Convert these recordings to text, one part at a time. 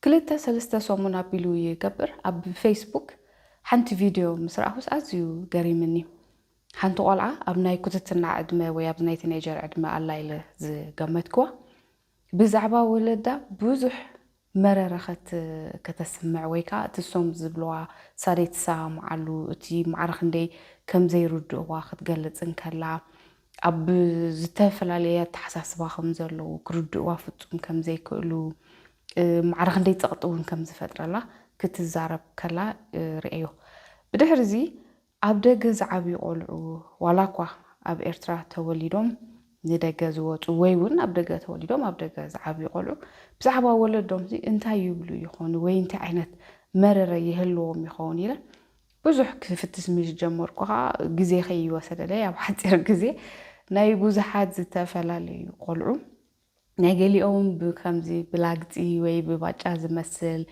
ክልተ ሰለስተ ሰሙን ኣቢሉ ይገብር ኣብ ፌስቡክ ሓንቲ ቪድዮ ምስ ረኣኹስ ኣዝዩ ገሪምኒ። ሓንቲ ቆልዓ ኣብ ናይ ኩትትና ዕድመ ወይ ኣብዚ ናይ ቲኔጀር ዕድመ ኣላ ኢለ ዝገመትክዋ ብዛዕባ ወለዳ ብዙሕ መረረ ከተስምዕ ወይ ከኣ እቲ እሶም ዝብልዋ ሳደይ ትሰማምዓሉ እቲ ማዕረ ክንደይ ከምዘይርድእዋ ክትገልጽ እንከላ ኣብ ዝተፈላለየ ኣተሓሳስባ ከም ዘለዉ፣ ክርድእዋ ፍጹም ከም ዘይክእሉ፣ ማዕረ ክንደይ ጸቕጢ እውን ከም ዝፈጥረላ ክትዛረብ ከላ ርእየዮ። ብድሕርዚ ኣብ ደገ ዝዓብዩ ቆልዑ፣ ዋላ እኳ ኣብ ኤርትራ ተወሊዶም ንደገ ዝወጹ ወይ እውን ኣብ ደገ ተወሊዶም ኣብ ደገ ዝዓብዩ ቆልዑ ብዛዕባ ወለዶምሲ እንታይ ይብሉ ይኾኑ ወይ እንታይ ዓይነት መረረ ይህልዎም ይኸውን ኢለ ብዙሕ ክፍትስ ምስ ጀመርኩ ኸኣ ግዜ ከይወሰደለይ ኣብ ሓጺር ግዜ ናይ ብዙሓት ዝተፈላለዩ ቆልዑ ናይ ገሊኦም ብከምዚ ብላግጺ ወይ ብባጫ ዝመስል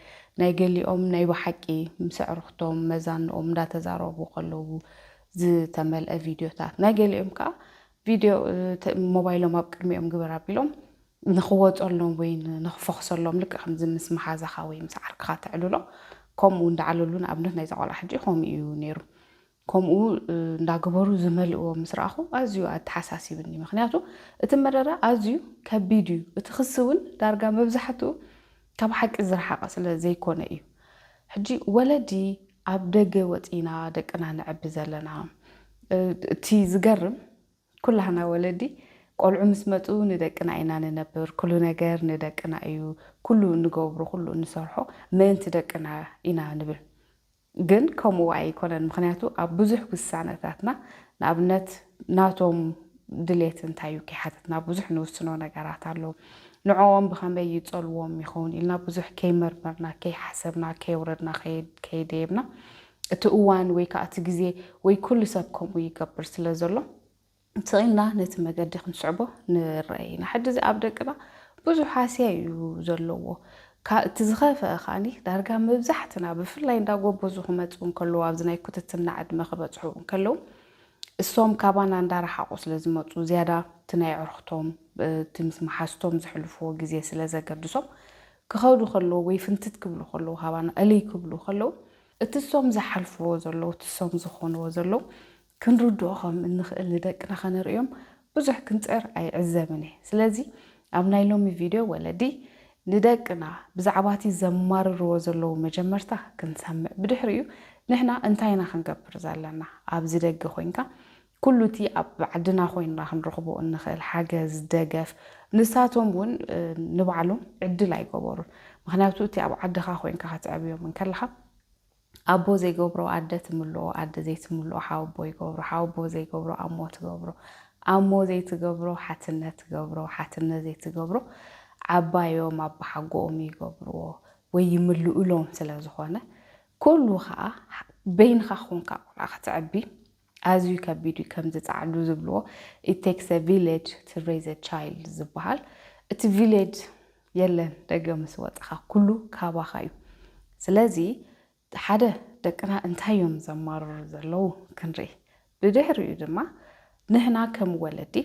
ናይ ገሊኦም ናይ ብሓቂ ምስ ኣዕሩኽቶም መዛንኦም እንዳተዛረቡ ከለዉ ዝተመልአ ቪድዮታት ናይ ገሊኦም ከኣ ቪድዮ ሞባይሎም ኣብ ቅድሚኦም ግበር ኣቢሎም ንኽወጸሎም ወይ ንኽፈኹሰሎም ልክዕ ከምዚ ምስ መሓዛኻ ወይ ምስ ዓርክኻ ተዕልሎ ከምኡ እንዳዓለሉ ንኣብነት ናይዛ ቆልዓ ሕጂ ከምኡ እዩ ነይሩ ከምኡ እንዳገበሩ ዝመልእዎ ምስ ረኣኹ ኣዝዩ ኣተሓሳሲብኒ ምክንያቱ እቲ መረረ ኣዝዩ ከቢድ እዩ እቲ ክሲ እውን ዳርጋ መብዛሕትኡ ካብ ሓቂ ዝረሓቐ ስለ ዘይኮነ እዩ ሕጂ ወለዲ ኣብ ደገ ወጺና ደቅና ነዕቢ ዘለና እቲ ዝገርም ኩላህና ወለዲ ቆልዑ ምስ መጹ ንደቅና ኢና ንነብር ኩሉ ነገር ንደቅና እዩ ኩሉ እንገብሮ ኩሉ እንሰርሖ ምእንቲ ደቅና ኢና ንብል ግን ከምኡ ኣይኮነን ምኽንያቱ ኣብ ብዙሕ ውሳነታትና ንኣብነት ናቶም ድሌት እንታይ እዩ ከይሓተትና ብዙሕ ንውስኖ ነገራት ኣሎ ንዕኦም ብኸመይ ይጸልዎም ይኸውን ኢልና ብዙሕ ከይመርመርና ከይሓሰብና ከየውረድና ከይደየብና እቲ እዋን ወይ ከኣ እቲ ግዜ ወይ ኩሉ ሰብ ከምኡ ይገብር ስለ ዘሎ ስቕ ኢልና ነቲ መገዲ ክንስዕቦ ንረኣይ ኢና። ሕጂ እዚ ኣብ ደቅና ብዙሕ ሃስያ እዩ ዘለዎ። ካብ እቲ ዝኸፈኣ ከኣኒ ዳርጋ መብዛሕትና ብፍላይ እንዳ ጎበዙ ክመጽኡ እንከለዉ ኣብዚ ናይ ኩትትና ዕድመ ክበጽሑ እንከለዉ እሶም ካባና እንዳረሓቑ ስለ ዝመጹ ዝያዳ እቲ ናይ ኣዕሩኽቶም እቲ ምስ መሓዝቶም ዘሕልፍዎ ግዜ ስለ ዘገድሶም ክኸዱ ከለዉ ወይ ፍንትት ክብሉ ከለዉ ካባና እልይ ክብሉ ከለዉ እቲ እሶም ዝሓልፍዎ ዘለዉ እቲ እሶም ዝኾንዎ ዘለዉ ክንርድኦ ከም እንኽእል ንደቅና ከነርእዮም ብዙሕ ክንጽዕር ኣይዕዘብን እየ ስለዚ ኣብ ናይ ሎሚ ቪድዮ ወለዲ ንደቅና ብዛዕባ እቲ ዘማርርዎ ዘለዉ መጀመርታ ክንሰምዕ ብድሕሪኡ ንሕና እንታይ ኢና ክንገብር ዘለና ኣብዚ ደገ ኮይንካ ኩሉ እቲ ኣብ ዓድና ኮይንና ክንረኽቦ እንኽእል ሓገዝ፣ ደገፍ፣ ንሳቶም እውን ንባዕሎም ዕድል ኣይገበሩን። ምኽንያቱ እቲ ኣብ ዓድኻ ኮይንካ ከተዕብዮም እንከለኻ ኣቦ ዘይገብሮ ኣደ ትምልኦ፣ ኣደ ዘይትምልኦ ሓወቦ ይገብሮ፣ ሓወቦ ዘይገብሮ ኣሞ ትገብሮ፣ ኣሞ ዘይትገብሮ ሓትነ ትገብሮ፣ ሓትነ ዘይትገብሮ ዓባዮም ኣባሓጎኦም ይገብርዎ ወይ ይምልእሎም ስለዝኾነ ኩሉ ከኣ በይንኻ ኮንካ ቆልዓ ከተዕቢ ኣዝዩ ከቢድ እዩ ከምዚ ጻዕዱ ዝብልዎ it takes a village to raise a child ዝብሃል እቲ ቪሌጅ የለን ደገ ምስ ወጻኻ ኩሉ ካባኻ እዩ ስለዚ ሓደ ደቅና እንታይ እዮም ዘማርሩ ዘለዉ ክንርኢ ብድሕሪኡ ድማ ንህና ከም ወለዲ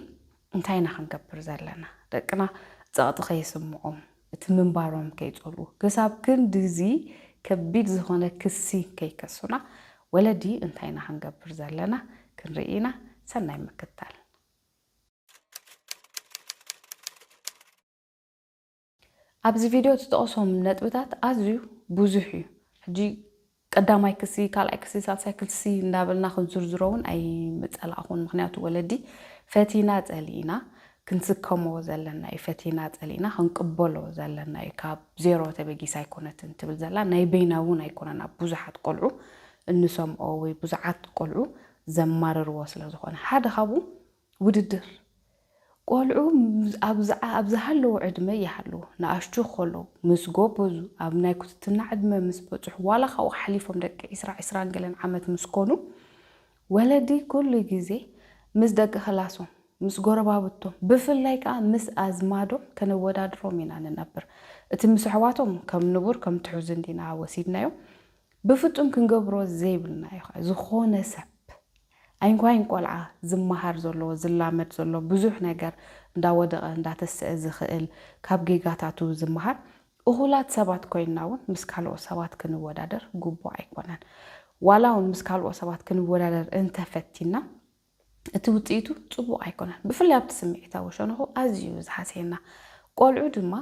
እንታይ ኢና ክንገብር ዘለና ደቅና ጸቕጢ ከይስምዖም እቲ ምንባሮም ከይጸልዉ፣ ክሳብ ክንድዚ ከቢድ ዝኾነ ክሲ ከይከሱና፣ ወለዲ እንታይ ኢና ክንገብር ዘለና ክንርኢ ኢና። ሰናይ ምክትታል። ኣብዚ ቪድዮ ዝተጠቕሶም ነጥብታት ኣዝዩ ብዙሕ እዩ። ሕጂ ቀዳማይ ክሲ ካልኣይ ክሲ ሳልሳይ ክሲ እንዳበልና ክንዝርዝሮ እውን ኣይምጸላእኹን ምኽንያቱ ወለዲ ፈቲና ጸሊእና ክንስከሞ ዘለና እዩ ፈቲና ጸሊእና ክንቅበሎ ዘለና እዩ ካብ ዜሮ ተበጊሳ ኣይኮነትን ትብል ዘላ ናይ በይና እውን ኣይኮነን ኣብ ብዙሓት ቆልዑ እንሰምኦ ወይ ብዙሓት ቆልዑ ዘማርርዎ ስለ ዝኾነ ሓደ ካብኡ ውድድር፣ ቆልዑ ኣብ ዝሃለዉ ዕድመ ይሃልዉ ንኣሽቱ ከለዉ ምስ ጎበዙ፣ ኣብ ናይ ኩትትና ዕድመ ምስ በጽሑ ዋላ ካብኡ ሓሊፎም ደቂ ዕስራ፣ ዕስራን ገለን ዓመት ምስ ኮኑ ወለዲ ኩሉ ግዜ ምስ ደቂ ክላሶም፣ ምስ ጎረባብቶም ብፍላይ ከኣ ምስ ኣዝማዶም ከነወዳድሮም ኢና ንነብር። እቲ ምስ ኣሕዋቶም ከም ንቡር ከም ትሑዝ እንዲና ወሲድናዮ። ብፍጹም ክንገብሮ ዘይብልና እዩ ከኣ ዝኾነ ሰብ ኣይንኳይን ቆልዓ ዝመሃር ዘሎ ዝላመድ ዘሎ ብዙሕ ነገር እንዳወደቐ እንዳተሰኣ ዝኽእል ካብ ጌጋታቱ ዝመሃር እኹላት ሰባት ኮይንና ውን ምስ ካልኦት ሰባት ክንወዳደር ግቡእ ኣይኮነን ዋላ ውን ምስ ካልኦት ሰባት ክንወዳደር እንተፈቲንና እቲ ውጽኢቱ ጽቡቕ ኣይኮነን ብፍላይ ኣብቲ ስምዒታዊ ሸነኹ ኣዝዩ ዝሃስየና ቆልዑ ድማ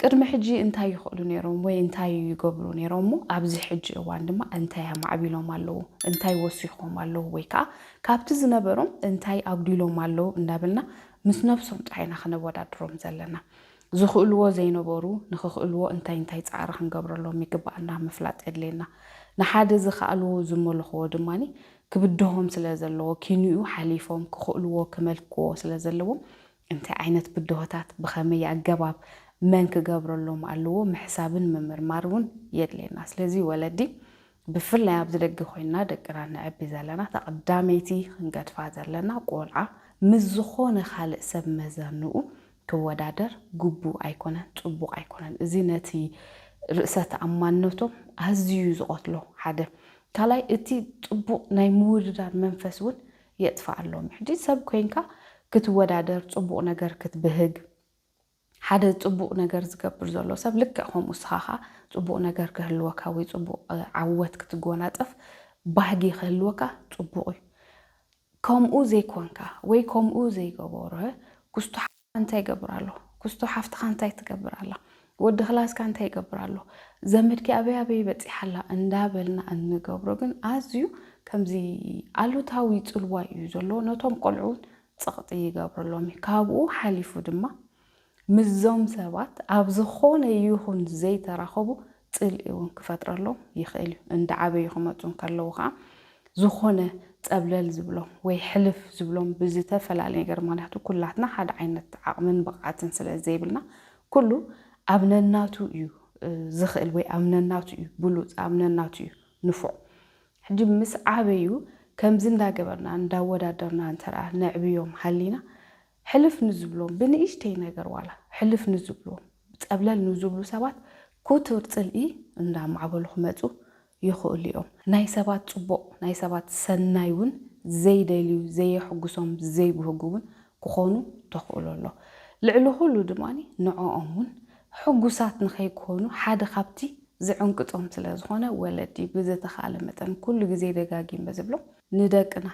ቅድሚ ሕጂ እንታይ ይኽእሉ ነይሮም ወይ እንታይ ይገብሩ ነይሮም እሞ ኣብዚ ሕጂ እዋን ድማ እንታይ ኣማዕቢሎም ኣለዉ፣ እንታይ ወሲኾም ኣለዉ ወይ ከኣ ካብቲ ዝነበሮም እንታይ ኣጉዲሎም ኣለዉ እንዳበልና ምስ ነብሶም ጥራይ ኢና ከነወዳድሮም ዘለና። ዝኽእልዎ ዘይነበሩ ንኽኽእልዎ እንታይ እንታይ ጻዕሪ ክንገብረሎም ይግበኣና ምፍላጥ የድልየና። ንሓደ ዝኸኣሉ ዝመልኹዎ ድማ ክብድሆም ስለ ዘለዎ ኪንኡ ሓሊፎም ክኽእልዎ ክመልክዎ ስለ ዘለዎም እንታይ ዓይነት ብድሆታት ብኸመይ ኣገባብ መን ክገብረሎም ኣለዎ ምሕሳብን ምምርማር እውን የድልየና። ስለዚ ወለዲ ብፍላይ ኣብዚ ደገ ኮይንና ደቅና እነዕቢ ዘለና እታ ቀዳመይቲ ክንገድፋ ዘለና ቆልዓ ምስ ዝኾነ ካልእ ሰብ መዘንኡ ክወዳደር ግቡእ ኣይኮነን ጽቡቕ ኣይኮነን። እዚ ነቲ ርእሰ ተኣማንነቶም ኣዝዩ እዩ ዝቐትሎ ሓደ። ካልኣይ እቲ ጽቡቕ ናይ ምውድዳር መንፈስ እውን የጥፍኣሎም ሕጂ ሰብ ኮይንካ ክትወዳደር ጽቡቅ ነገር ክትብህግ ሓደ ጽቡቅ ነገር ዝገብር ዘሎ ሰብ ልክዕ ከምኡ እስኻ ከኣ ጽቡቅ ነገር ክህልወካ ወይ ጽቡቅ ዓወት ክትጎናጸፍ ባህጊ ክህልወካ ጽቡቅ እዩ ከምኡ ዘይኮንካ ወይ ከምኡ ዘይገበረ ኩስቶ እንታይ ይገብር ኣሎ ኩስቶ ሓፍትኻ እንታይ ትገብር ኣላ ወዲ ክላስካ እንታይ ይገብር ኣሎ ዘመድኪ ኣበይ ኣበይ በጺሓ ኣላ እንዳበልና እንገብሮ ግን ኣዝዩ ከምዚ ኣሉታዊ ጽልዋ እዩ ዘለዎ ነቶም ቆልዑ እውን ጸቕጢ ይገብረሎም እዩ ካብኡ ሓሊፉ ድማ ምስዞም ሰባት ኣብ ዝኾነ ይኹን ዘይተራኸቡ ጽልኢ እውን ክፈጥረሎም ይኽእል እዩ። እንዳዓበዩ ክመጹ እንከለዉ ከኣ ዝኾነ ጸብለል ዝብሎም ወይ ሕልፍ ዝብሎም ብዝተፈላለየ ነገር ምክንያቱ ኩላትና ሓደ ዓይነት ዓቕምን ብቕዓትን ስለ ዘይብልና ኩሉ ኣብ ነናቱ እዩ ዝኽእል ወይ ኣብ ነናቱ እዩ ብሉጽ ኣብ ነናቱ እዩ ንፉዕ ሕጂ ምስ ዓበዩ ከምዚ እንዳገበርና እንዳወዳደርና እንተ ነዕብዮም ሃሊና ሕልፍ ንዝብሎም ብንእሽተይ ነገር ዋላ ሕልፍ ንዝብሎም ጸብለል ንዝብሉ ሰባት ኩቱር ጽልኢ እንዳ ኣማዕበሉ ክመጹ ይኽእሉ እዮም። ናይ ሰባት ጽቡቕ ናይ ሰባት ሰናይ ውን ዘይደልዩ ዘየሕጉሶም ዘይብህጉ ውን ክኾኑ ተኽእሎ ኣሎ። ልዕሊ ኩሉ ድማ ንዖኦም ውን ሕጉሳት ንኸይኮኑ ሓደ ካብቲ ዝዕንቅጾም ስለ ዝኾነ ወለዲ ብዝተኻለ መጠን ኩሉ ግዜ ደጋጊመ ዝብሎ ንደቅና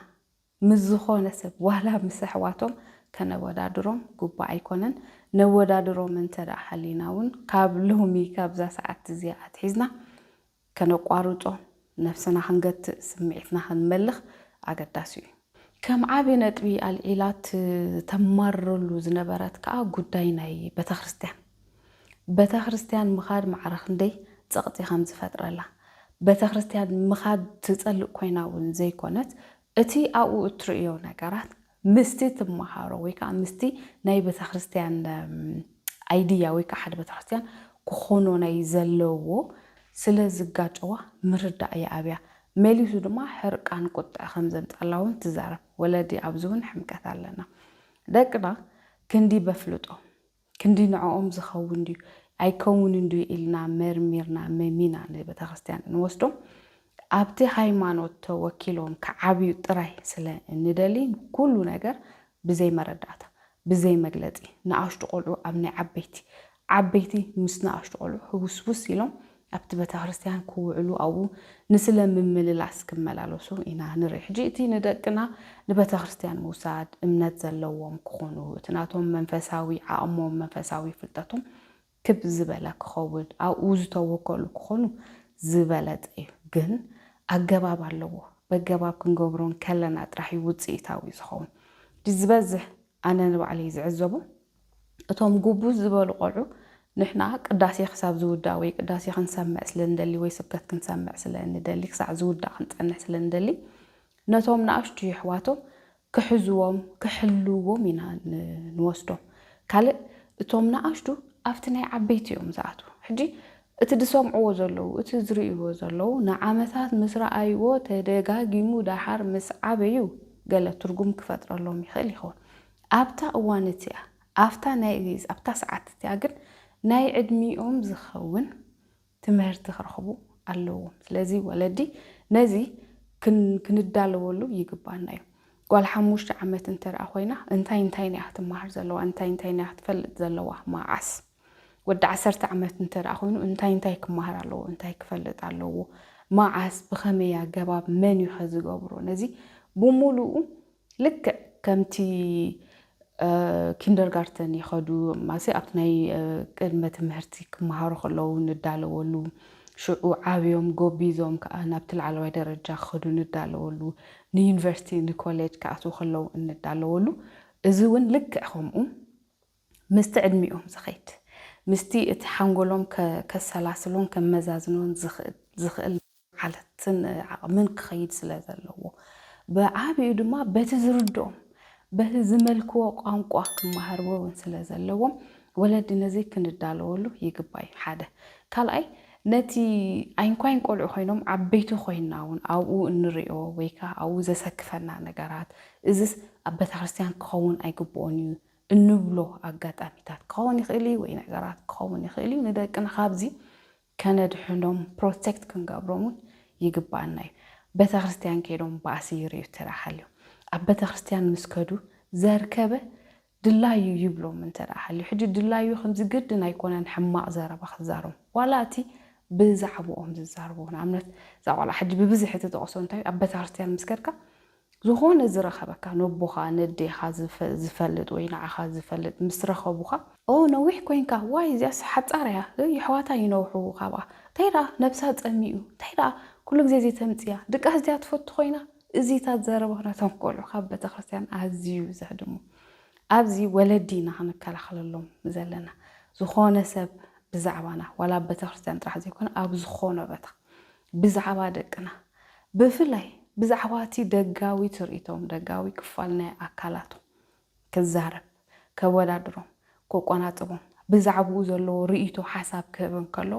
ምስ ዝኾነ ሰብ ዋላ ምስ ኣሕዋቶም ከነወዳድሮም ግቡእ ኣይኮነን። ነወዳድሮም እንተ ደኣ ሃሊና እውን ካብ ሎሚ ካብዛ ሰዓት እዚኣ ኣትሒዝና ከነቋርጾ፣ ነብስና ክንገትእ፣ ስምዒትና ክንመልኽ ኣገዳሲ እዩ። ከም ዓቢ ነጥቢ ኣልዒላ እተማርረሉ ዝነበረት ከኣ ጉዳይ ናይ ቤተክርስትያን፣ በተክርስትያን ምኻድ ማዕረ ክንደይ ጸቕጢ ከም ዝፈጥረላ፣ በተክርስትያን ምኻድ ትጸልእ ኮይና እውን ዘይኮነት፣ እቲ ኣብኡ እትርእዮ ነገራት ምስቲ ትመሃሮ ወይ ከኣ ምስቲ ናይ በተክርስትያን ኣይድያ ወይ ከኣ ሓደ በተክርስትያን ክኾኖ ናይ ዘለዎ ስለ ዝጋጨዋ ምርዳእ ይኣብያ። መሊሱ ድማ ሕርቃን ቁጥዐ ከም ዘምጽኣላ እውን ትዛረብ። ወለዲ ኣብዚ እውን ሕምቀት ኣለና። ደቅና ክንዲ በፍልጦ ክንዲ ንዕኦም ዝኸውን ድዩ ኣይከውንን ድዩ ኢልና መርሚርና መሚና ንቤተክርስትያን እንወስዶም ኣብቲ ሃይማኖት ተወኪሎም ክዓብዩ ጥራይ ስለ እንደሊ ኩሉ ነገር ብዘይ መረዳእታ ብዘይ መግለጺ ንኣሽቱ ቆልዑ ኣብ ናይ ዓበይቲ ዓበይቲ ምስ ንኣሽቱ ቆልዑ ህውስውስ ኢሎም ኣብቲ ቤተክርስትያን ክውዕሉ ኣብኡ ንስለ ምምልላስ ክመላለሱ ኢና ንርኢ። ሕጂ እቲ ንደቅና ንቤተክርስትያን ምውሳድ እምነት ዘለዎም ክኾኑ እቲ ናቶም መንፈሳዊ ዓቕሞም መንፈሳዊ ፍልጠቶም ክብ ዝበለ ክኸውን ኣብኡ ዝተወከሉ ክኾኑ ዝበለጸ እዩ። ግን ኣገባብ ኣለዎ። በገባብ ክንገብሮ እንከለና ጥራሕ እዩ ውጽኢታዊ ዝኸውን። ሕጂ ዝበዝሕ ኣነ ንባዕለይ ዝዕዘቦ እቶም ጉብዝ ዝበሉ ቆልዑ ንሕና ቅዳሴ ክሳብ ዝውዳእ ወይ ቅዳሴ ክንሰምዕ ስለ ንደሊ ወይ ስብከት ክንሰምዕ ስለ ንደሊ ክሳዕ ዝውዳእ ክንጸንሕ ስለ ንደሊ ነቶም ንኣሽቱ የሕዋቶም ክሕዝዎም ክሕልውዎም ኢና ንወስዶም ካልእ እቶም ንኣሽቱ ኣብቲ ናይ ዓበይቲ እዮም ዝኣትዉ ሕጂ እቲ ዝሰምዕዎ ዘለዉ እቲ ዝርእይዎ ዘለዉ ንዓመታት ምስ ረኣይዎ ተደጋጊሙ ደሓር ምስ ዓበዩ ገለ ትርጉም ክፈጥረሎም ይኽእል ይኸውን ኣብታ እዋን እቲኣ፣ ኣብታ ናይ ሊዝ፣ ኣብታ ሰዓት እቲኣ ግን ናይ ዕድሚኦም ዝኸውን ትምህርቲ ክረኽቡ ኣለዎም። ስለዚ ወለዲ ነዚ ክንዳለወሉ ይግባና እዩ። ጓል ሓሙሽተ ዓመት እንተደኣ ኮይና እንታይ እንታይን እያ ክትመሃር ዘለዋ፣ እንታይ እንታይን እያ ክትፈልጥ ዘለዋ፣ መዓስ? ወዲ ዓሰርተ ዓመት እንተደኣ ኮይኑ እንታይ እንታይ ክመሃር ኣለዎ፣ እንታይ ክፈልጥ ኣለዎ፣ መዓስ፣ ብኸመይ ኣገባብ፣ መን እዩኸ ዝገብሮ፣ ነዚ ብምሉኡ ልክዕ ከምቲ ኪንደርጋርተን ይኸዱ ማሰ ኣብቲ ናይ ቅድመ ትምህርቲ ክመሃሩ ከለዉ ንዳለወሉ ሽዑ ዓብዮም ጎቢዞም ከዓ ናብቲ ላዕለዋይ ደረጃ ክኸዱ ንዳለወሉ ንዩኒቨርሲቲ ንኮሌጅ ክኣትዉ ከለዉ እንዳለወሉ እዚ እውን ልክዕ ከምኡ ምስቲ ዕድሚኦም ዝኸይድ፣ ምስቲ እቲ ሓንጎሎም ከሰላስሎን ከመዛዝኖን ዝኽእል ዓለትን ዓቕምን ክኸይድ ስለ ዘለዎ። ብዓቢኡ ድማ በቲ ዝርድኦም፣ በቲ ዝመልክዎ ቋንቋ ክመሃርዎ እውን ስለ ዘለዎም፣ ወለዲ ነዚ ክንዳለወሉ ይግባእ እዩ፣ ሓደ። ካልኣይ ነቲ ኣይንኳይን ቆልዑ ኮይኖም ዓበይቲ ኮይንና እውን ኣብኡ እንርእዮ ወይ ከኣ ኣብኡ ዘሰክፈና ነገራት፣ እዝስ ኣብ ቤተክርስትያን ክኸውን ኣይግብኦን እዩ እንብሎ ኣጋጣሚታት ክኸውን ይኽእል እዩ ወይ ነገራት ክኸውን ይኽእል እዩ። ንደቅና ካብዚ ከነድሕኖም ፕሮቴክት ክንገብሮም እውን ይግባኣና እዩ። ቤተክርስትያን ከይዶም ባእሲ ይርእዩ እንተደኣ ሃልዮም ኣብ ቤተክርስትያን ምስ ከዱ ዘርከበ ድላዩ ይብሎም እንተደኣ ሃልዩ ሕጂ ድላዩ ከምዚ ግድን ኣይኮነን ሕማቕ ዘረባ ክዛረቡ ዋላ እቲ ብዛዕብኦም ዝዛረቡ ንኣብነት እዛ ቆልዓ ሕጂ ብብዝሒ ትጠቕሶ እንታይ እዩ ኣብ ቤተክርስትያን ምስ ከድካ ዝኾነ ዝረኸበካ ነቦኻ ነዴኻ ዝፈልጥ ወይ ንዓኻ ዝፈልጥ ምስ ረኸቡኻ ኦህ ነዊሕ ኮንካ ዋይ እዚኣስ ሓጻር እያ እይ የሕዋታ ይነውሑ ካብኣ እንታይ ደኣ ነብሳ ጸሚኡ እንታይ ደኣ ኩሉ ግዜ እዚ ተምጽያ ድቃስ ድያ ትፈቱ ኮይና እዚታት ዘረባ ነቶም ቆልዑ ካብ ቤተክርስትያን ኣዝዩ ዘህድሙ ኣብዚ ወለዲ ኢና ክንከላኸለሎም ዘለና ዝኾነ ሰብ ብዛዕባና ዋላ ኣብ ቤተክርስትያን ጥራሕ ዘይኮነ ኣብ ዝኾነ በታ ብዛዕባ ደቅና ብፍላይ ብዛዕባ እቲ ደጋዊ ትርኢቶም፣ ደጋዊ ክፋል ናይ ኣካላቶም ክዛረብ፣ ከወዳድሮም፣ ክቆናጽቦም፣ ብዛዕባኡ ዘለዎ ርእይቶ ሓሳብ ክህብ እንከሎ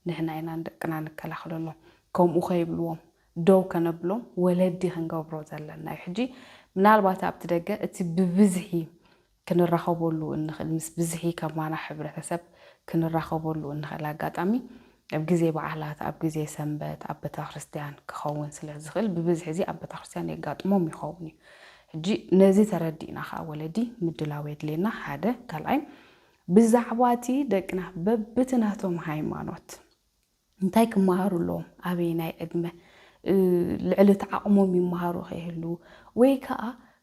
ንሕና ኢና ንደቅና ንከላኸለሎም፣ ከምኡ ከይብልዎም ደው ከነብሎም ወለዲ ክንገብሮ ዘለና እዩ። ሕጂ ምናልባት ኣብቲ ደገ እቲ ብብዝሒ ክንራኸበሉ እንኽእል ምስ ብዝሒ ከማና ሕብረተሰብ ክንራኸበሉ እንኽእል ኣጋጣሚ ኣብ ግዜ በዓላት፣ ኣብ ግዜ ሰንበት፣ ኣብ ቤተክርስትያን ክኸውን ስለ ዝኽእል ብብዝሒ እዚ ኣብ ቤተክርስትያን የጋጥሞም ይኸውን እዩ። ሕጂ ነዚ ተረዲእና ከኣ ወለዲ ምድላው የድልየና ሓደ፣ ካልኣይ ብዛዕባ እቲ ደቅና በብቲ ናቶም ሃይማኖት፣ እንታይ ክመሃሩ ኣለዎም? ኣበየናይ ዕድመ? ልዕሊ እቲ ዓቕሞም ይመሃሩ ከይህልዉ ወይ ከኣ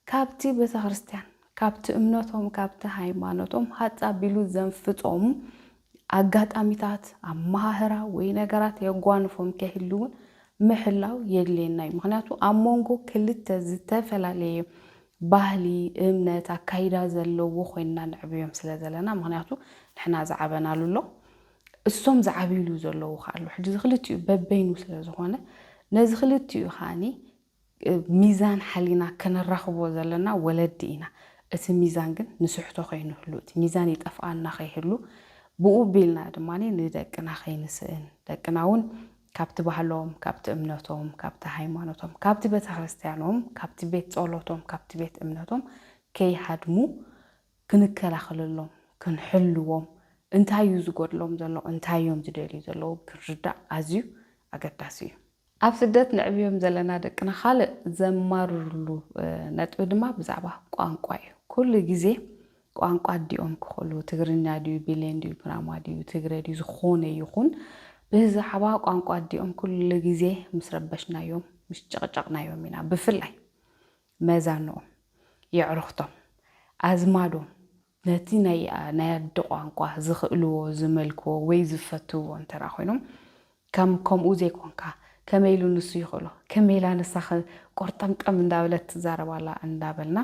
ካብቲ ቤተክርስትያን ካብቲ እምነቶም ካብቲ ሃይማኖቶም ሃጽ ኣቢሉ ዘንፍጾም ኣጋጣሚታት ኣመሃህራ ወይ ነገራት የጓንፎም ከይህልውን ምሕላው የድልየና እዩ። ምክንያቱ ኣብ መንጎ ክልተ ዝተፈላለየ ባህሊ፣ እምነት፣ ኣካይዳ ዘለዎ ኮይንና ነዕብዮም ስለ ዘለና ምክንያቱ ንሕና ዝዓበናሉ ኣሎ እሶም ዝዓብይሉ ዘለዉ ከኣ ኣሎ። ሕጂ እዚ ክልቲኡ በበይኑ ስለ ዝኾነ ነዚ ክልቲኡ ከኣኒ ሚዛን ሓሊና ከነራኽቦ ዘለና ወለዲ ኢና። እቲ ሚዛን ግን ንስሕቶ ከይንህሉ፣ እቲ ሚዛን ይጠፍኣና ከይህሉ፣ ብኡ ቢልና ድማ ንደቅና ከይንስእን፣ ደቅና እውን ካብቲ ባህሎም፣ ካብቲ እምነቶም፣ ካብቲ ሃይማኖቶም፣ ካብቲ ቤተክርስትያኖም፣ ካብቲ ቤት ጸሎቶም፣ ካብቲ ቤት እምነቶም ከይሃድሙ፣ ክንከላኸለሎም ክንሕልዎም እንታይ እዩ ዝጎድሎም ዘሎ እንታይ እዮም ዝደልዩ ዘለዉ ክንርዳእ ኣዝዩ ኣገዳሲ እዩ። ኣብ ስደት ነዕብዮም ዘለና ደቅና ካልእ ዘማርርሉ ነጥቢ ድማ ብዛዕባ ቋንቋ እዩ። ኩሉ ግዜ ቋንቋ ኣዲኦም ክኽእሉ ትግርኛ ድዩ ቢሌን ድዩ ኩናማ ድዩ ትግረ ድዩ ዝኾነ ይኹን ብዛዕባ ቋንቋ ኣዲኦም ኩሉ ግዜ ምስ ረበሽናዮም ምስ ጨቕጨቕናዮም ኢና ብፍላይ መዛኖኦም፣ የዕሩኽቶም፣ ኣዝማዶም ነቲ ናይ ናይ ኣደ ቋንቋ ዝኽእልዎ፣ ዝመልክዎ ወይ ዝፈትውዎ እንተድኣ ኮይኖም ከም ከምኡ ዘይኮንካ ከመይ ኢሉ ንሱ ይኽእሎ ከመይ ኢላ ንሳኸ ቆርጠምጠም እንዳበለት ትዛረብ ኣላ እንዳበልና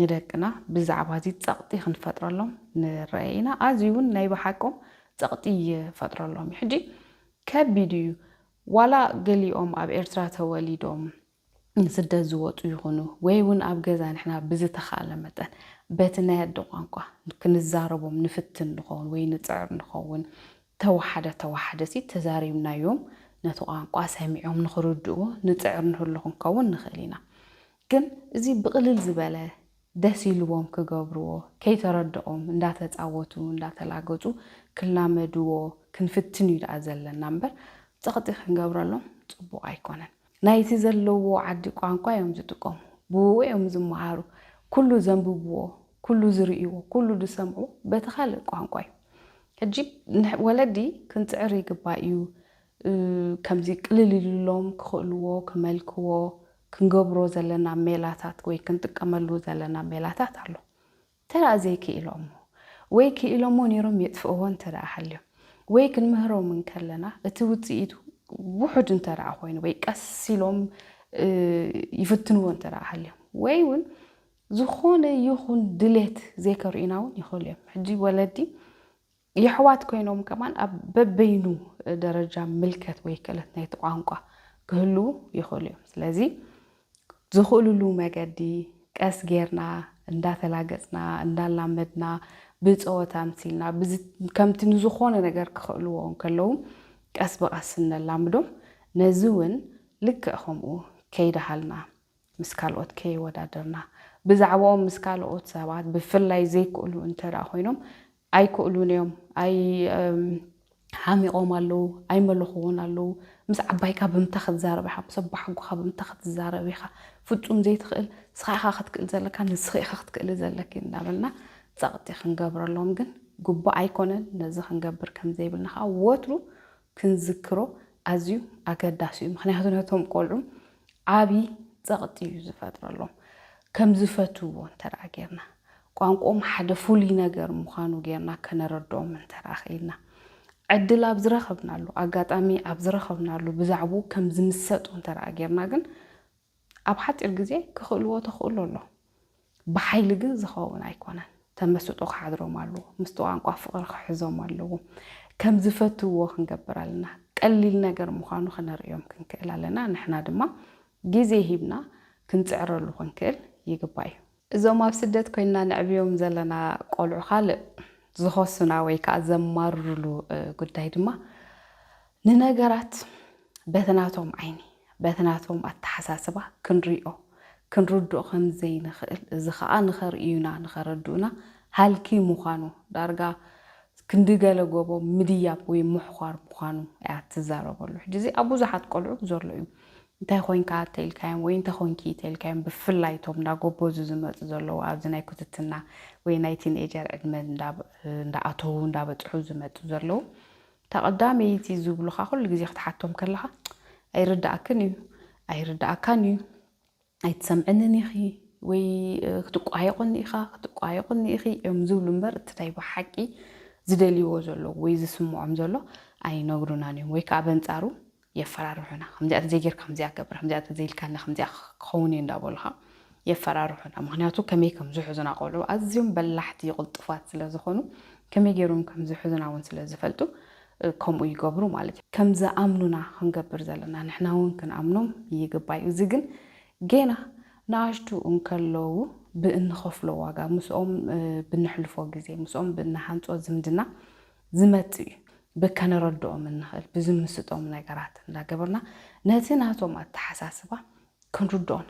ንደቅና ብዛዕባ እዚ ጸቕጢ ክንፈጥረሎም ንረኣይ ኢና። ኣዝዩ እውን ናይ ብሓቆም ጸቕጢ ይፈጥረሎም እዩ። ሕጂ ከቢድ እዩ ዋላ ገሊኦም ኣብ ኤርትራ ተወሊዶም ንስደት ዝወጹ ይኹኑ ወይ እውን ኣብ ገዛ ንሕና ብዝተኻእለ መጠን በቲ ናይ ኣደ ቋንቋ ክንዛረቦም ንፍትን ንኸውን ወይ ንጽዕር ንኸውን። ተወሓደ ተወሓደሲ ተዛሪብናዮም ነቲ ቋንቋ ሰሚዖም ንኽርድእዎ ንጽዕር ንህሉ ክንከውን ንኽእል ኢና። ግን እዚ ብቕልል ዝበለ ደስ ኢልዎም ክገብርዎ ከይተረደኦም እንዳተጻወቱ እንዳተላገጹ ክላመድዎ ክንፍትን እዩ ደኣ ዘለና እምበር ጸቕጢ ክንገብረሎም ጽቡቕ ኣይኮነን። ናይቲ ዘለዎ ዓዲ ቋንቋ እዮም ዝጥቀሙ ብኡኡ እዮም ዝመሃሩ ኩሉ ዘንብብዎ ኩሉ ዝርእይዎ ኩሉ ዝሰምዑ በቲ ካልእ ቋንቋ እዩ ሕጂ ወለዲ ክንጽዕር ይግባእ እዩ ከምዚ ቅልል ኢሉሎም ክኽእልዎ ክመልክዎ ክንገብሮ ዘለና ሜላታት ወይ ክንጥቀመሉ ዘለና ሜላታት ኣሎ እንተደኣ ዘይክኢሎሞ ወይ ክኢሎሞ ነይሮም የጥፍእዎ እንተደኣ ሃልዮም ወይ ክንምህሮም እንከለና እቲ ውጽኢቱ ውሑድ እንተደኣ ኮይኑ ወይ ቀስ ኢሎም ይፍትንዎ እንተደኣ ሃልዮም ወይ እውን ዝኾነ ይኹን ድሌት ዘይከርእዩና እውን ይኽእሉ እዮም። ሕጂ ወለዲ የሕዋት ኮይኖም ከማን ኣብ በበይኑ ደረጃ ምልከት ወይ ክእለት ናይቲ ቋንቋ ክህልዉ ይኽእሉ እዮም። ስለዚ ዝኽእሉሉ መገዲ ቀስ ጌርና እንዳተላገጽና እንዳላመድና ብጸወታ ኣምሲልና ከምቲ ንዝኾነ ነገር ክኽእልዎ እንከለዉ ቀስ ብቐስ እነላምዶም ነዚ እውን ልክዕ ከምኡ ከይደሃልና ምስ ካልኦት ከየወዳደርና ብዛዕባኦም ምስ ካልኦት ሰባት ብፍላይ ዘይክእሉ እንተደኣ ኮይኖም ኣይክእሉን እዮም፣ ኣይ ሓሚቖም ኣለዉ፣ ኣይመለኹዎን ኣለዉ፣ ምስ ዓባይካ ብምንታይ ክትዛረብ ኢኻ፣ ምስ ኣቦሓጎኻ ብምንታይ ክትዛረብ ኢኻ፣ ፍጹም ዘይትኽእል ንስኻ ኢኻ ክትክእል ዘለካ፣ ንስኺ ኢኺ ክትክእሊ ዘለኪ እንዳበልና ጸቕጢ ክንገብረሎም ግን ግቡእ ኣይኮነን፣ ነዚ ክንገብር ከም ዘይብልና ከኣ ወትሩ ክንዝክሮ ኣዝዩ ኣገዳሲ እዩ ምክንያቱ ነቶም ቆልዑ ዓቢ ጸቕጢ እዩ ዝፈጥረሎም ከም ዝፈትውዎ እንተ ጌርና ቋንቆኦም ሓደ ፍሉይ ነገር ምዃኑ ጌርና ከነረድኦም እንተ ኽኢልና ዕድል ኣብ ዝረኸብናሉ ኣጋጣሚ ኣብ ዝረኸብናሉ ብዛዕብኡ ከም ዝምሰጡ እንተ ጌርና ግን ኣብ ሓጺር ግዜ ክኽእልዎ ተኽእሎ ኣሎ። ብሓይሊ ግን ዝኸውን ኣይኮነን። ተመስጦ ክሓድሮም ኣለዎ። ምስቲ ቋንቋ ፍቕሪ ክሕዞም ኣለዎ። ከም ዝፈትውዎ ክንገብር ኣለና። ቀሊል ነገር ምዃኑ ክነርእዮም ክንክእል ኣለና። ንሕና ድማ ግዜ ሂብና ክንጽዕረሉ ክንክእል ይግባእ እዩ። እዞም ኣብ ስደት ኮይንና ነዕብዮም ዘለና ቆልዑ ካልእ ዝኸሱና ወይ ከኣ ዘማርሩሉ ጉዳይ ድማ ንነገራት በቲ ናቶም ዓይኒ በቲ ናቶም ኣተሓሳስባ ክንሪኦ ክንርድኦ ከም ዘይንኽእል እዚ ከኣ ንኸርእዩና ንኸረድኡና ሃልኪ ምዃኑ ዳርጋ ክንዲ ገለ ጎቦ ምድያብ ወይ ምሕዃር ምዃኑ እያ ትዛረበሉ። ሕጂ እዚ ኣብ ብዙሓት ቆልዑ ዘሎ እዩ። እንታይ ኮንካ እተኢልካዮም ወይ እንታይ ኮንኪ እተኢልካዮም ብፍላይ እቶም እንዳ ጎቦዙ ዝመጹ ዘለዉ ኣብዚ ናይ ኩትትና ወይ ናይ ቲንኤጀር ዕድመ እንዳ ኣተዉ እንዳ በጽሑ ዝመጹ ዘለዉ እታ ቀዳመይቲ ዝብሉኻ ኩሉ ግዜ ክትሓቶም ከለኻ ኣይርድኣክን እዩ ኣይርድኣካን እዩ ኣይትሰምዕንን ኢኺ ወይ ክትቋየቁኒ ኢኻ ክትቋየቁኒ ኢኺ እዮም ዝብሉ እምበር እቲ ናይ ብሓቂ ዝደልይዎ ዘለዉ ወይ ዝስምዖም ዘሎ ኣይነግሩናን እዮም ወይ ከዓ በንጻሩ የፈራርሑና ከምዚኣ ተዘይጌርካ ከምዚኣ ገብር ከምዚኣ ተዘይልካና ከምዚኣ ክኸውንዩ እንዳበሉኻ የፈራርሑና ምክንያቱ ከመይ ከምዝሕዙና ቆልዑ ኣዝዮም በላሕቲ ቕልጡፋት ስለዝኾኑ ከመይ ጌሮም ከምዝሕዙና ውን ስለዝፈልጡ ከምኡ ይገብሩ ማለት እዩ ከምዝኣምኑና ክንገብር ዘለና ንሕና ውን ክንኣምኖም ይግባይ እዩ እዚ ግን ጌና ንኣሽቱ እንከለዉ ብእንኸፍሎ ዋጋ ምስኦም ብነሕልፎ ግዜ ምስኦም ብንሃንጾ ዝምድና ዝመጽእ እዩ ብከነረድኦም እንኽእል ብዝምስጦም ነገራት እንዳገበርና ነቲ ናቶም ኣተሓሳስባ ክንርድኦን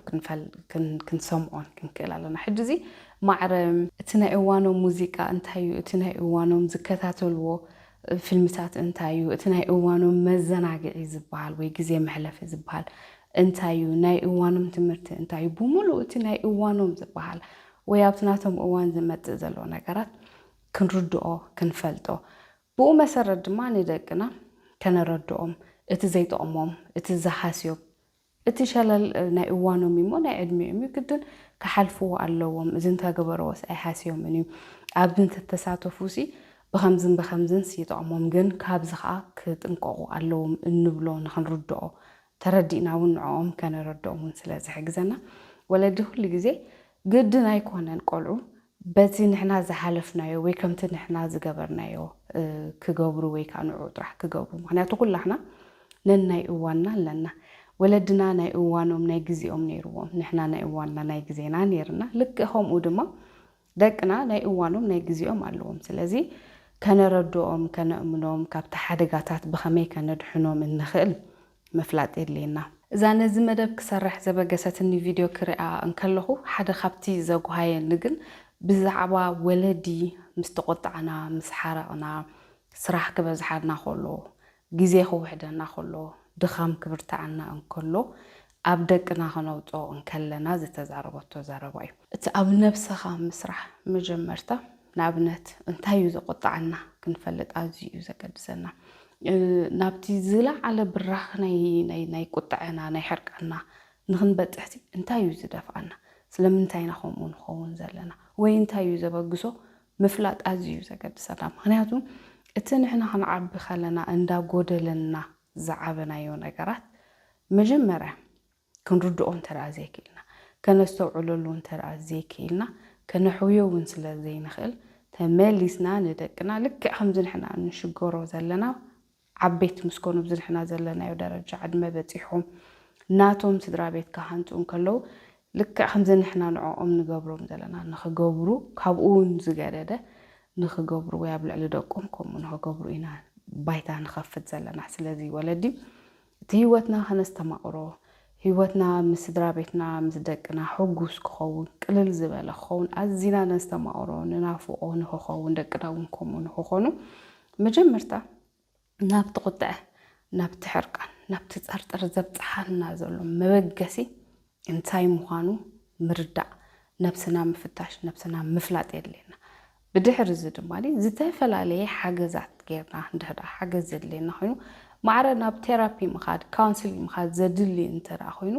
ክንሰምዖን ክንክእል ኣለና ሕጂ እዚ ማዕረ እቲ ናይ እዋኖም ሙዚቃ እንታይ እዩ እቲ ናይ እዋኖም ዝከታተልዎ ፊልምታት እንታይ እዩ እቲ ናይ እዋኖም መዘናግዒ ዝበሃል ወይ ግዜ መሕለፊ ዝበሃል እንታይ እዩ ናይ እዋኖም ትምህርቲ እንታይ እዩ ብምሉእ እቲ ናይ እዋኖም ዝበሃል ወይ ኣብቲ ናቶም እዋን ዝመጽእ ዘሎ ነገራት ክንርድኦ ክንፈልጦ ብኡ መሰረት ድማ ንደቅና ከነረድኦም እቲ ዘይጠቕሞም እቲ ዝሃስዮም እቲ ሸለል ናይ እዋኖም እዩሞ ናይ ዕድሜኦም እዩ ግድን ክሓልፍዎ ኣለዎም እዚ እንተገበረዎስ ኣይሃስዮምን እዩ ኣብዚ እንተተሳተፉሲ ብኸምዝን ብኸምዝንስ ይጠቕሞም ግን ካብዚ ከዓ ክጥንቀቑ ኣለዎም እንብሎ ንክንርድኦ ተረዲእና ውን ንዕኦም ከነረድኦም ውን ስለ ዝሕግዘና ወለዲ ኩሉ ግዜ ግድን ኣይኮነን ቆልዑ በቲ ንሕና ዝሓለፍናዮ ወይ ከምቲ ንሕና ዝገበርናዮ ክገብሩ ወይ ከዓ ንዕኡ ጥራሕ ክገብሩ ምክንያቱ ኩላሕና ነናይ እዋንና ኣለና ወለድና ናይ እዋኖም ናይ ግዜኦም ነይርዎም ንሕና ናይ እዋንና ናይ ግዜና ነይርና ልክዕ ከምኡ ድማ ደቅና ናይ እዋኖም ናይ ግዜኦም ኣለዎም ስለዚ ከነረድኦም ከነእምኖም ካብቲ ሓደጋታት ብኸመይ ከነድሕኖም እንኽእል ምፍላጥ የድልየና። እዛ ነዚ መደብ ክሰርሕ ዘበገሰትኒ ቪድዮ ክርኣ እንከለኹ ሓደ ካብቲ ዘጉሃየኒ ግን ብዛዕባ ወለዲ ምስ ተቖጣዕና ምስ ሓረቕና ስራሕ ክበዝሓና ኮሎ ግዜ ክውሕደና ከሎ፣ ድኻም ክብርትዓና እንከሎ፣ ኣብ ደቅና ከነውጽኦ እንከለና ዝተዛረበቶ ዘረባ እዩ። እቲ ኣብ ነብሰኻ ምስራሕ መጀመርታ ንኣብነት እንታይ እዩ ዘቖጥዓና ክንፈልጥ ኣዝዩ እዩ ዘገድሰና። ናብቲ ዝለዓለ ብራኽ ናይ ናይ ቁጥዐና ናይ ሕርቃንና ንኽንበጽሕሲ እንታይ እዩ ዝደፍኣና? ስለምንታይ ኢና ከምኡ ንኸውን ዘለና? ወይ እንታይ እዩ ዘበግሶ ምፍላጥ ኣዝዩ እዩ ዘገድሰና ምኽንያቱ እቲ ንሕና ክንዓቢ ከለና እንዳ ጎደለና ዝዓበናዮ ነገራት መጀመርያ ክንርድኦ እንተደኣ ዘይክኢልና ከነስተውዕለሉ እንተደኣ ዘይክኢልና ከነሕውዮ እውን ስለ ዘይንኽእል ተመሊስና ንደቅና ልክዕ ከምዚ ንሕና እንሽገሮ ዘለና ዓበይቲ ምስ ኮኑ ኣብዚ ንሕና ዘለናዮ ደረጃ ዕድመ በጺሖም ናቶም ስድራ ቤት ክሃንጹ እንከለዉ ልክዕ ከምዚ ንሕና ንዕኦም ንገብሮም ዘለና ንኽገብሩ ካብኡ ውን ዝገደደ ንኽገብሩ ወይ ኣብ ልዕሊ ደቆም ከምኡ ንኽገብሩ ኢና ባይታ ንኸፍት ዘለና። ስለዚ ወለዲ እቲ ህይወትና ከነስተማቕሮ ህይወትና ምስ ስድራቤትና ምስ ደቅና ሕጉስ ክኸውን ቅልል ዝበለ ክኸውን ኣዚና ነስተማቕሮ ንናፍቖ ንክኸውን ደቅና እውን ከምኡ ንክኾኑ መጀመርታ ናብቲ ቁጥዐ ናብቲ ሕርቃን ናብቲ ጸርጥር ዘብጽሓና ዘሎ መበገሲ እንታይ ምዃኑ ምርዳእ ነብስና ምፍታሽ ነብስና ምፍላጥ የድልየና ብድሕሪ እዚ ድማ ዝተፈላለየ ሓገዛት ጌርና እንድሕር ደኣ ሓገዝ ዘድልየና ኮይኑ ማዕረ ናብ ቴራፒ ምኻድ፣ ካውንስሊንግ ምኻድ ዘድሊ እንተ ደኣ ኮይኑ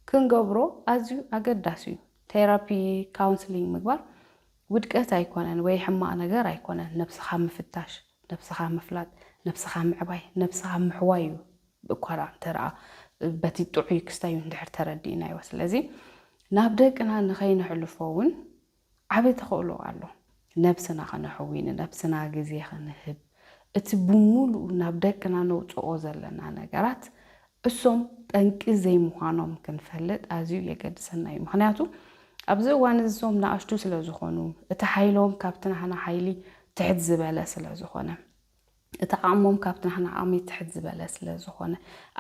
ክንገብሮ ኣዝዩ ኣገዳሲ እዩ። ቴራፒ፣ ካውንስሊንግ ምግባር ውድቀት ኣይኮነን ወይ ሕማቕ ነገር ኣይኮነን። ነብስኻ ምፍታሽ፣ ነብስኻ ምፍላጥ፣ ነብስኻ ምዕባይ፣ ነብስኻ ምሕዋይ እዩ እኳ ደኣ እንተ ደኣ በቲ ጥዑይ ክስታዩ እንድሕር ተረዲእናዮ። ስለዚ ናብ ደቅና ንኸይነሕልፎ እውን፣ ዓቢ ተኽእሎ ኣሎ ነብስና ከነሕዊ ንነብስና ግዜ ክንህብ እቲ ብሙሉኡ ናብ ደቅና ነውጽኦ ዘለና ነገራት እሶም ጠንቂ ዘይምዃኖም ክንፈልጥ ኣዝዩ የገድሰና እዩ ምኽንያቱ ኣብዚ እዋን እዚ እሶም ንኣሽቱ ስለዝኾኑ እቲ ሓይሎም ካብቲ ናህና ሓይሊ ትሕት ዝበለ ስለዝኾነ እቲ ዓቕሞም ካብቲ ናህና ዓቕሚ ትሕት ዝበለ ስለ ዝኾነ፣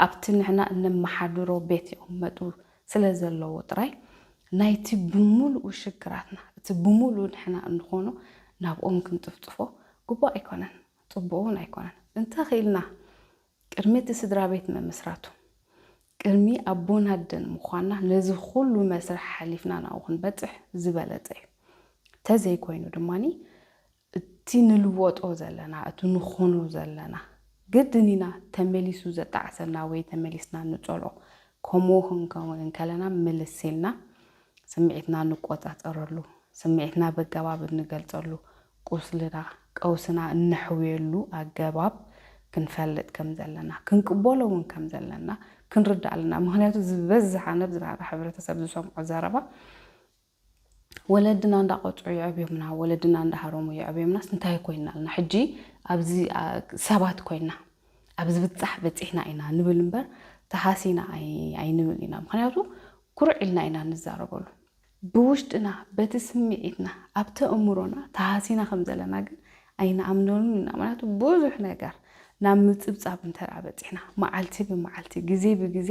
ኣብቲ ንሕና እነመሓድሮ ቤት ይቕመጡ ስለ ዘለዉ ጥራይ፣ ናይቲ ብምሉኡ ሽግራትና፣ እቲ ብምሉኡ ንሕና እንኾኖ ናብኦም ክንጽፍጽፎ ግቡእ ኣይኮነን፣ ጽቡቕ እውን ኣይኮነን። እንተ ኽኢልና ቅድሚ እቲ ስድራ ቤት ምምስራቱ፣ ቅድሚ ኣቦን ኣደን ምዃንና ነዚ ኹሉ መስርሕ ሓሊፍና ናብኡ ክንበጽሕ ዝበለጸ እዩ። እንተ ዘይኮይኑ ድማ እቲ ንልወጦ ዘለና፣ እቲ ንኾኖ ዘለና፣ ግድን ኢና ተመሊሱ ዘጣዕሰና ወይ ተመሊስና ንጸልኦ። ከምኡ ክንከውን እንከለና ምልስ ኢልና ስምዒትና ንቆጻጸረሉ፣ ስምዒትና በገባብ እንገልጸሉ፣ ቁስልና፣ ቀውስና እነሕውየሉ ኣገባብ ክንፈልጥ ከም ዘለና፣ ክንቅበሎ እውን ከም ዘለና ክንርዳእ ኣለና። ምኽንያቱ ዝበዝሕ ኣነ ብዝራራ ሕብረተሰብ ዝሰምዖ ዘረባ፣ ወለድና እንዳቆጽዑ የዕብዮምና ወለድና እንዳሃረሙ የዕብዮምናስ እንታይ ኮይና ኣልና ሕጂ ኣብዚ ሰባት ኮይና ኣብ ዝብጻሕ በጺሕና ኢና ንብል እምበር ተሃሲና ኣይንብል ኢና ምክንያቱ ኩርዕ ኢልና ኢና ንዛረበሉ ብውሽጥና በቲ ስምዒትና ኣብቲ እምሮና ተሃሲና ከም ዘለና ግን ኣይንኣምነሉን ኢና ምክንያቱ ብዙሕ ነገር ናብ ምጽብጻብ እንተ በጺሕና መዓልቲ ብመዓልቲ ግዜ ብግዜ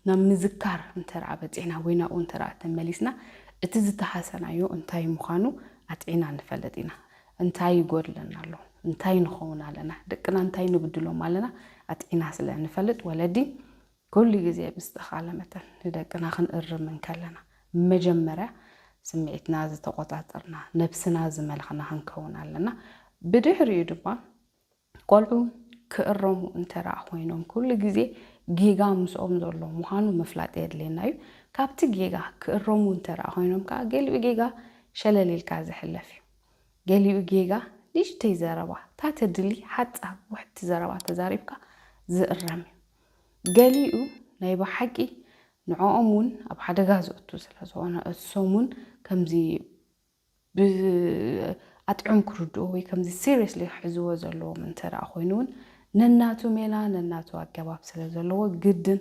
ናብ ምዝካር እንተደኣ በጺሕና ወይ ናብኡ እንተደኣ ተመሊስና እቲ ዝተሃሰናዮ እንታይ ምዃኑ ኣጥዒና ንፈልጥ ኢና። እንታይ ይጎድለና ኣሎ? እንታይ ንኸውን ኣለና? ደቅና እንታይ ንብድሎም ኣለና? ኣጥዒና ስለ እንፈልጥ ወለዲ ኩሉ ግዜ ብዝተኻለ መጠን ንደቅና ክንእርም እንከለና መጀመርያ ስምዒትና ዝተቖጻጸርና፣ ነብስና ዝመለኽና ክንከውን ኣለና። ብድሕሪኡ ድማ ቆልዑ ክእረሙ እንተደኣ ኮይኖም ኩሉ ግዜ ጌጋ ምስኦም ዘሎ ምዃኑ ምፍላጥ የድልየና እዩ። ካብቲ ጌጋ ክእረሙ እንተደኣ ኮይኖም ከኣ ገሊኡ ጌጋ ሸለል ኢልካ ዝሕለፍ እዩ። ገሊኡ ጌጋ ንእሽተይ ዘረባ ታተድሊ ሓጻር ውሕድቲ ዘረባ ተዛሪብካ ዝእረም እዩ። ገሊኡ ናይ ብሓቂ ንዕኦም እውን ኣብ ሓደጋ ዘእቱ ስለዝኾነ እሶም እውን ከምዚ ብኣጥዕም ክርድኡ ወይ ከምዚ ሲሪየስሊ ክሕዝዎ ዘለዎም እንተ ኮይኑ እውን ነናቱ ሜላ ነናቱ ኣገባብ ስለ ዘለዎ ግድን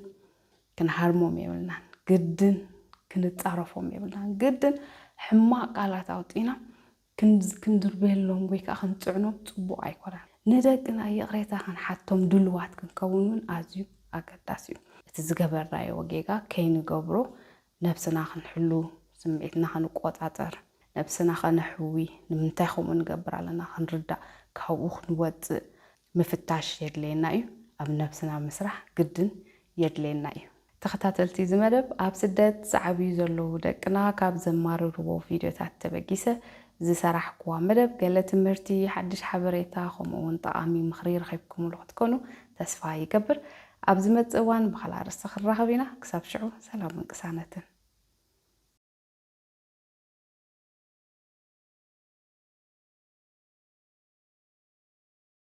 ክንሃርሞም የብልናን፣ ግድን ክንጻረፎም የብልናን፣ ግድን ሕማቕ ቃላት ኣውጢና ክንድርበየሎም ወይ ከዓ ክንፅዕኖም ፅቡቕ ኣይኮነን። ንደቅና ይቕሬታ ክንሓቶም ድልዋት ክንከውን እውን ኣዝዩ ኣገዳሲ እዩ። እቲ ዝገበርናዮ ጌጋ ከይንገብሮ ነብስና ክንሕሉ፣ ስምዒትና ክንቆጻጸር፣ ነብስና ከነሕዊ፣ ንምንታይ ከምኡ ንገብር ኣለና ክንርዳእ፣ ካብኡ ክንወጽእ ምፍታሽ የድልየና እዩ። ኣብ ነብስና ምስራሕ ግድን የድልየና እዩ። ተኸታተልቲ እዚ መደብ፣ ኣብ ስደት ዝዓብዩ ዘለዉ ደቅና ካብ ዘማርርዎ ቪድዮታት ተበጊሰ ዝሰራሕኩዋ መደብ፣ ገለ ትምህርቲ፣ ሓድሽ ሓበሬታ ከምኡ'ውን ጠቓሚ ምኽሪ ረኺብኩምሉ ክትኮኑ ተስፋ ይገብር። ኣብ ዝመጽእ እዋን ብኻልእ ኣርእስቲ ክንራኸብ ኢና ክሳብ ሽዑ ሰላምን ቅሳነትን።